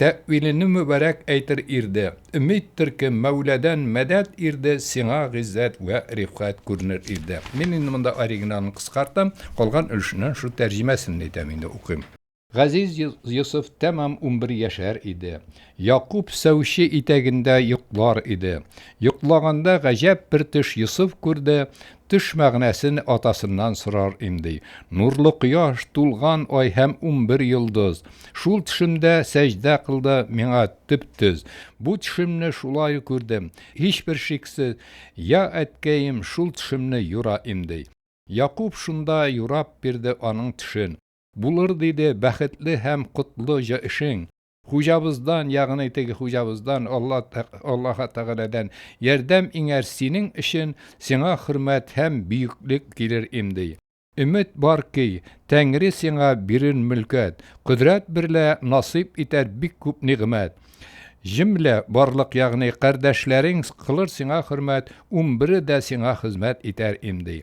Тәэвилене мөбарәк әйтер ирде, Өмид төркем, Мәүләдән мәдәт ирде, Сиңа гыйззәт вә рифгать күренер ирде. Мин инде монда оригиналын кыскартам, калган өлешеннән шул тәрҗемәсен әйтәм инде, укыйм. Газиз Йосыф тәмам унбер яшәр иде. Якуб сәүче итәгендә йоклар иде. Йоклаганда гаҗәп бер төш Йосыф күрде, Төш мәгънәсен атасыннан сорар имди. Нурлы кояш, тулган ай һәм унбер йолдыз. Шул төшемдә сәҗдә кылды миңа төп төз. Бу төшемне шулай күрдем, һичбер шиксез, Я әткәем шул төшемне юра имди. Якуб шунда юрап бирде аның төшен. Булыр диде бәхетле һәм котлы җа эшең. Хуҗабыздан, ягъни теге хуҗабыздан, Алла, Аллаһы Тәгаләдән ярдәм иңәр синең өчен, сиңа хөрмәт һәм бөеклек килер им, ди. Өмет бар ки, Тәңре сиңа бирер мөлкәт, кодрәт берлә насыйп итәр бик күп нигъмәт. Җөмлә барлык, ягъни кардәшләрең кылыр сиңа хөрмәт, унбере дә сиңа хезмәт итәр им, ди.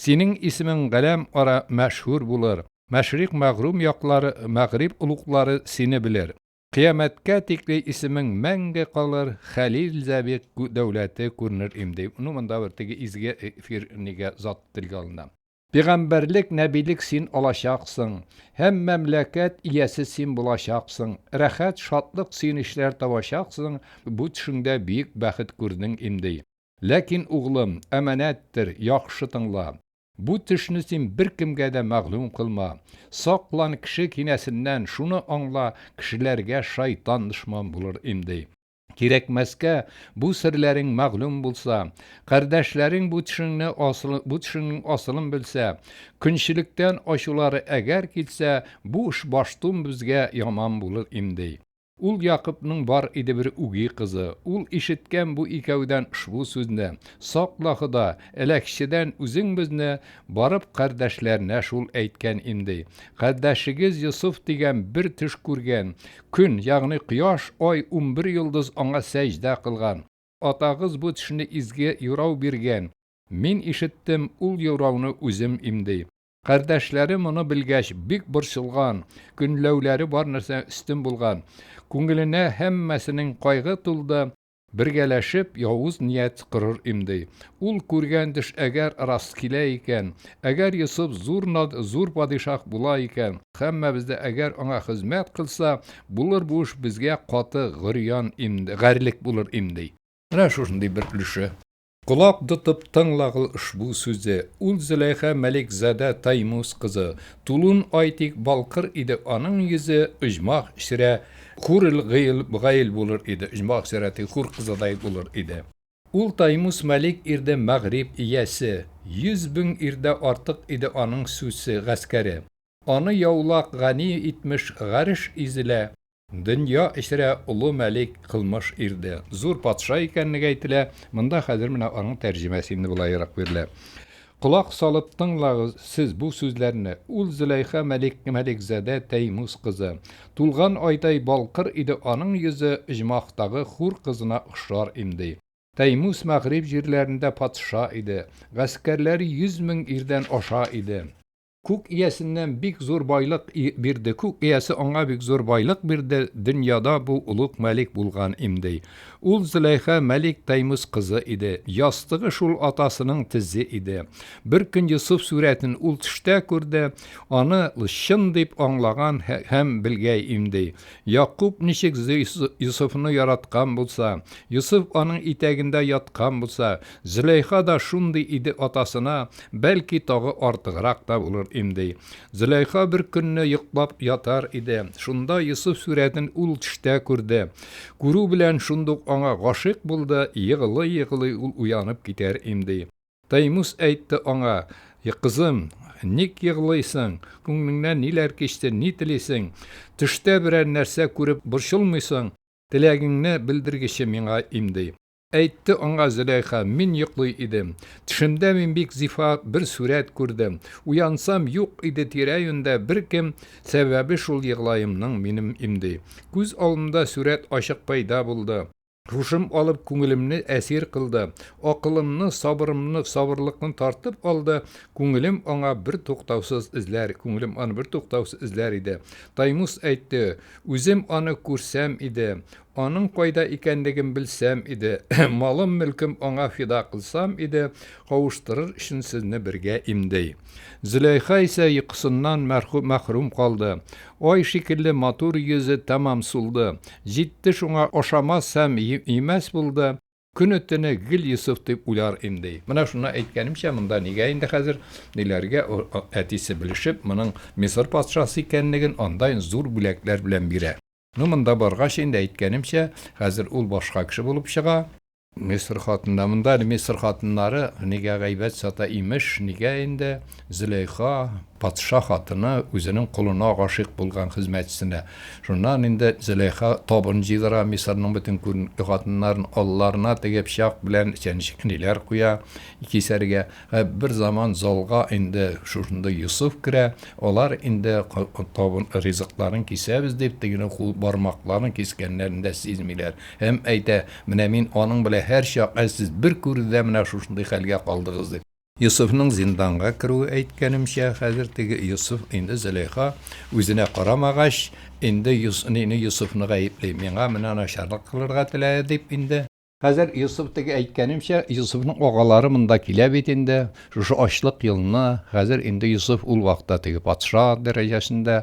Синең исемең галәм ара мәшһүр булыр, Мәшрикъ мәгърүм яклар, мәгъриб олуглары сине белер. Кыямәткә тикле исемең мәңге калыр, Хәлил Зәбир дәүләте күренер им, ди. Ну, монда бер теге изге эфир нигә зат телгә алына. Пигамбәрлек, нәбилек син алачаксың, Һәм мәмләкәт иясе син булачаксың, Рәхәт, шатлык, сөенечләр табачаксың, Бу төшеңдә биек бәхет күрдең им, ди. Ләкин, углым, әманәттер, яхшы тыңла. Бу төшне син беркемгә дә мәгълүм кылма. Саклан кеше кинәсеннән, шуны аңла, кешеләргә шайтан дошман булыр имди. Кирәкмәскә, бу серләрең мәгълүм булса, кардәшләрең бу төшеңне асыл, бу төшеңнең асылын белсә, көнчелектән ачулары әгәр килсә, бу эш баштун безгә яман булыр имди. Ул Якыпның бар иде бер үги кызы. Ул ишеткән бу икәүдән шбу сүзне, Сакла, Хода, әләкчедән үзең безне, барып кардәшләренә шул әйткән имди. Кардәшегез Йосыф дигән бер төш күргән. Көн, ягъни кояш, ай, унбер йолдыз аңа сәҗдә кылган. Атагыз бу төшне изге юрау биргән. Мин ишеттем, ул юрауны үзем имди. Кардәшләре моны белгәч, бик борчылган, көнләүләре бар нәрсә өстен булган. Күңеленә һәммәсенең кайгы тулды. Бергәләшеп явыз ният корыр имди. Ул күргән төш әгәр рас килә икән, әгәр Йосыф зур над, зур падишаһ була икән, һәммәбез дә әгәр аңа хезмәт кылса, булыр бу эш безгә каты горьян имди, гарьлек булыр имди. Менә шушындый бер өлеше. Колак тотып тыңлагыл ошбу сүзе, Ул Зөләйха Мәликзадә Таймуз кызы, Тулун ай тик балкыр иде аның йөзе, Оҗмах чирә хурил гыйл гаил булыр иде, Оҗмах чирә ти хур кызыдай булыр иде. Ул Таймуз Мәлик ирде мәгъриб иясе, Йөз бең ирдә артык иде аның сүсе, гаскәре. Аны яулак гани итмеш гареш изелә, Дөнья эчрә олы мәлик, кылмыш ирде. Зур патша икәнлеге әйтелә. Монда хәзер менә аның тәрҗемәсе инде болаерак бирелә. Колак салып тыңлагыз сез бу сүзләрне. Ул Зөләйха мәлик, мәликзадә Тәймүз кызы. Тулган айдай балкыр иде аның йөзе, оҗмахтагы хур кызына охшар имди. Тәймүз мәгъриб җирләрендә патша иде. Гаскәрләре йөз мең ирдән аша иде. Күк иясеннән бик зур байлык бирде, күк иясе аңа бик зур байлык бирде, дөньяда бу олуг мәлик булган имди. Ул Зөләйха мәлик Таймус кызы иде, ястыгы шул атасының тезе иде. Бер көн Йосыф сүрәтен ул төштә күрде, аны чын дип аңлаган һәм белгәй имди. Якуб ничек Йосыфны яраткан булса, Йосыф аның итәгендә яткан булса, Зөләйха да шундый иде атасына, бәлки тагы артыграк та булыр имди. Зөләйха бер көнне йоклап ятар иде, шунда Йосыф сурәтен ул төштә күрде. Күрү белән шундук аңа гашыйк булды, егылый-егылый ул уянып китәр имди. Таймус әйтте аңа, Кызым, ник егылыйсың, күңлеңнән ниләр кичте, ни телисең? Төштә берәр нәрсә күреп борчылмыйсың, теләгеңне белдергече миңа имди. Әйтте аңа Зөләйха, Мин йоклый идем. Төшемдә мин бик зифа бер сурәт күрдем. Уянсам, юк иде тирә-юньдә беркем, сәбәбе шул еглаемның минем имди. Күз алымда сурәт ачык пәйда булды. Һушым алып күңелемне әсир кылды. Акылымны, сабырымны, сабырлыкны тартып алды. Күңелем аңа бертуктаусыз эзләр, күңелем аны бертуктаусыз эзләр иде. Таймус әйтте, Үзем аны күрсәм иде. Аның кайда икәнлеген белсәм иде, Малым-мөлкем аңа фида кылсам иде, Кавыштырыр өчен сезне бергә имди. Зөләйха исә йокысыннан мәхрүм калды. Ай шикелле матур йөзе тәмам сулды. Җитте шуңа ашамас һәм имәс булды, Көне-төне гел Йосыф дип уйлар имди. Менә шуннан әйткәнемчә, монда нигә инде хәзер, ниләргә әтисе белешеп, моның Мисыр патшасы икәнлеген, анда зур бүләкләр белән бирә. Ну, монда баргач, инде әйткәнемчә, хәзер ул башка кеше булып чыга. Мисыр хатында, монда әле Мисыр хатыннары нигә гайбәт сата, имеш, нигә инде Зөләйха, патша хатыны, үзенең колына гашыйк булган хезмәтчесенә. Шуннан инде Зөләйха табын җыйдыра, Мисырның бөтен күренекле хатыннарын алларына теге пычак белән чәнечкеләр куя, кисәргә. Ә бер заман залга инде шушындый Йосыф керә, алар инде табын ризыкларын кисәбез дип, тегенең кул бармакларын кискәннәрен дә сизмиләр. Һәм әйтә, Менә мин аның белән һәрчак, ә сез бер күрүдә менә шушындый хәлгә калдыгыз, дип. Йосыфның зинданга керүе әйткәнемчә, хәзер теге Йосыф инде Зөләйха үзенә карамагач, инде Йос, мине Йосыфны гаепли, миңа менә начарлык кылырга теләде дип инде. Хәзер Йосыф теге әйткәнемчә, Йосыфның агалары монда килә бит инде, шушы ачлык елына, хәзер инде Йосыф ул вакытта теге патша дәрәҗәсендә,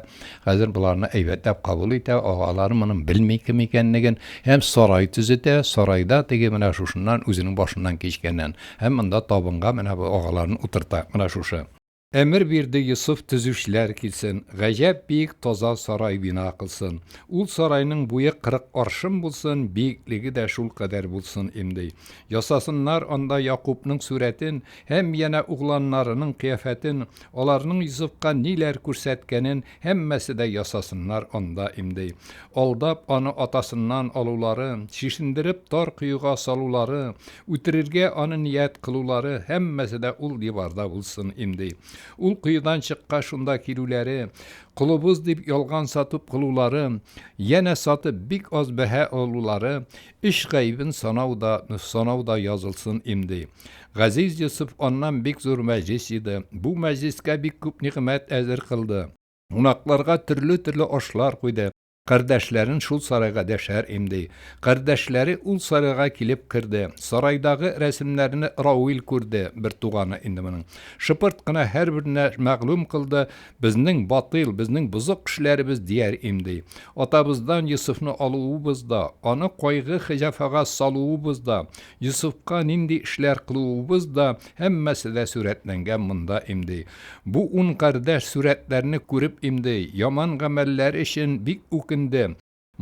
хәзер боларны әйбәтләп кабул итә, агалары моның белми кем икәнлеген, һәм сарай төзетә, сарайда теге менә шушыннан үзенең башыннан кичкәннән, һәм монда табынга менә бу агаларын утырта, менә шушы. Әмер бирде Йосыф төзүчеләр килсен, гаҗәп биек таза сарай бина кылсын. Ул сарайның буе кырык аршын булсын, биеклеге дә шул кадәр булсын имди. Ясасыннар анда Якубның сурәтен һәм янә угланнарының кыяфәтен, аларның Йосыфка ниләр күрсәткәнен Һәммәсе дә ясасыннар анда имди. Алдап, аны атасыннан алулары, чишендереп, тар коега салулары, үтерергә аны ният кылулары, һәммәсе дә ул диварда булсын имди. Ул коедан чыккач шунда килүләре, колыбыз дип ялган сатып кылулары, янә сатып бик аз бәһа алулары, Эш гаебен санау да, санау да язылсын им, ди. Газиз Йосыф аннан бик зур мәҗлес иде. Бу мәҗлескә бик күп нигъмәт әзер кылды. Кунакларга төрле-төрле ашлар куйды. Кардәшләрен шул сарайга дәшәр им, ди. Кардәшләре ул сарайга килеп керде. Сарайдагы рәсемнәрне Рауил күрде, бертуганы инде моның. Шыпырт кына һәрберенә мәгълүм кылды, Безнең батыйл, безнең бозык кешеләребез дияр имди. Атабыздан Йосыфны алуыбыз да, аны кайгы-хҗафага салуыбыз да, Йосыфка нинди эшләр кылуыбыз да, һәммәсе дә сурәтләнгән монда имди. Бу ун кардәш сурәтләрне күреп имди, яман гамәлләре өчен бик үкенде.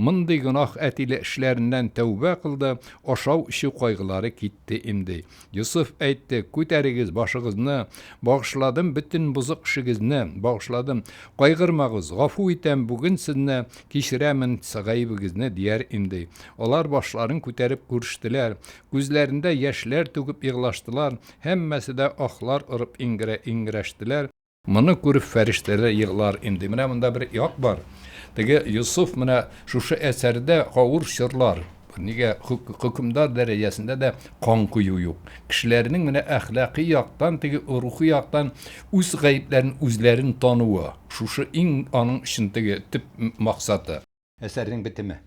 Мондый гөнаһ әтиле эшләреннән тәүбә кылды, ашау-эчү кайгылары китте имди. Йосыф әйтте, Күтәрегез башыгызны, багышладым бөтен бозык эшегезне, багышладым. Кайгырмагыз, гафу итәм бүген сезне, кичерәмен гаебегезне, дияр имди. Алар башларын күтәреп күрештеләр. Күзләрендә яшьләр түгеп еглаштылар, һәммәсе дә ахлар орып иңгерә-иңгерәштеләр. Моны күреп фәрештәләр еглар инде. Менә монда бер як бар. Теге Йосыф менә шушы әсәрдә авыр чорлар, нигә хөкемдар дәрәҗәсендә дә кан кую юк. Кешеләрнең менә әхлакый яктан, теге рухи яктан үз гаепләрен үзләрен тануы, шушы иң аның өчен теге төп максаты. Әсәрнең бетеме.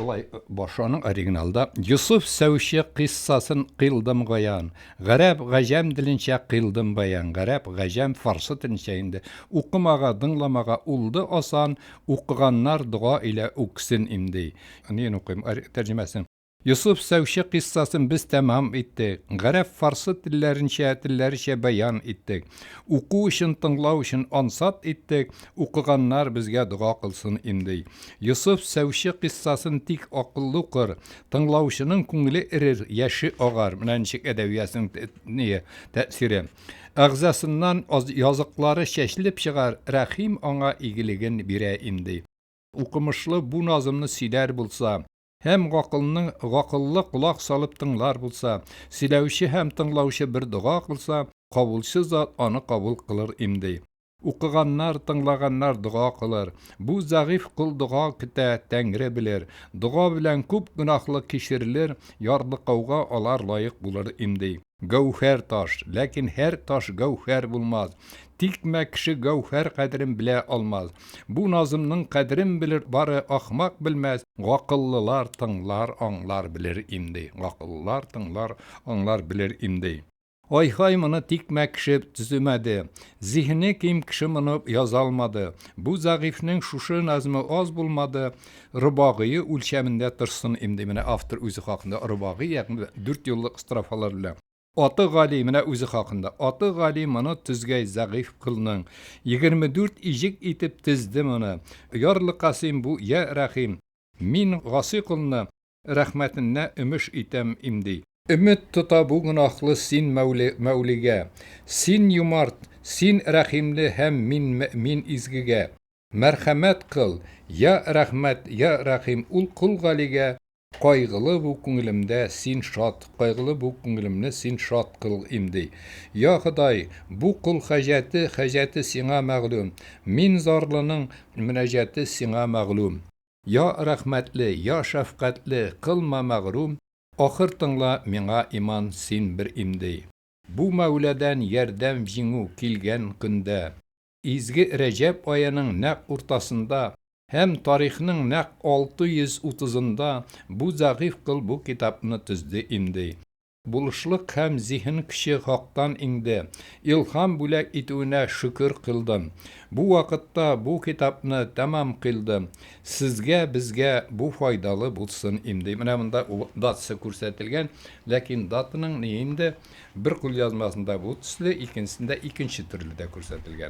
Болай башы аның оригиналда Йосыф сәүче кыйссасын кыйлдым гаян. Гарәп, гаҗәм диленчә кыйлдым баян. Гарәп, гаҗәм, фарсы теленчә инде. Укымага, дыңламага улды асан, укыганнар дога илә үксен имди. Ниен укыйм, тәрҗемәсен. Йосыф сәүче кыйссасын без тәмам иттек. Гарәп, фарсы телләренчә, телләречә бәян иттек. Уку өчен, тыңлау өчен ансат иттек. Укыганнар безгә дога кылсын инде. Йосыф сәүче кыйссасын тик акыллы укыр, тыңлаучының күңеле эрер, яше агар. Менә ничек әдәбиятның тәэсире. Әгъзасыннан языклары чәчелеп чыгар, Рәхим аңа игелеген бирә инде. Укымышлы бу назымны сөйләр булса. Һәм гакылның гакыллы колак салып тыңлар булса, сөйләүче һәм тыңлаучы бер дога кылса, кабулчы зат аны кабул кылыр имди. Укыганнар, тыңлаганнар дога кылыр. Бу зәгыйфь кол дога көтә, Тәңре белер. Дога белән күп гөнаһлык кичерелер, ярлыкауга алар лаек булыр имди. Гәүһәр таш, ләкин һәр таш гәүһәр булмас. Тикмә кеше гәүһәр кадерен белә алмас. Бу назымның кадерен белер бары ахмак белмәс, гакыллылар тыңлар, аңлар, белер имди. Гакыллылар тыңлар, аңлар, белер имди. Ай-һай, моны тикмә кеше төземәде. Зиһене ким кеше моны яза алмады. Бу зәгыйфьнең шушы назмы аз булмады, Рыбагые үлчәмендә торсын инде, менә автор үзе хакында рыбагый, ягъни дүрт юллык строфалар белән. Аты Гали, менә үзе хакында. Аты Гали моны төзгәй зәгыйф колның. Егерме дүрт иҗек итеп тезде моны. Ярлы Касыйм бу, йә Рәхим. Мин Гасый колны Рәхмәтеннә өмеш итәм имди. Өмет тота бу гөнаһлы син Мәүлигә. Син юмарт, син рәхимле һәм мин изгегә. Мәрхәмәт кыл, йа рәхмәт, йа рәхим ул кол Галигә. Кайгылы бу күңелемдә син шат, кайгылы бу күңелемне син шат кыл имди. Йа Ходай, бу кол хаҗәте, хаҗәте сиңа мәгълүм. Мин зарлының мөнәҗәте сиңа мәгълүм. Я рәхмәтле, я шәфкатьле, кылма мәгърүм, Ахыр тыңла миңа иман син бер имди. Бу Мәүләдән ярдәм җиңү килгән көндә, изге Рәҗәб аеның нәкъ уртасында һәм тарихның нәкъ алты йөз утызында бу зәгыйфь кол бу китапны төзде имди. Булышлык һәм зиһен көче хактан иңде. Илһам бүләк итүенә шөкер кыйлдым. Бу вакытта бу китапны тәмам кыйлдым. Сезгә, безгә бу файдалы булсын им, ди. Менә монда ул датасы күрсәтелгән, ләкин датаның ни инде, бер кулъязмасында бу төсле, икенчесендә икенче төрле дә күрсәтелгән.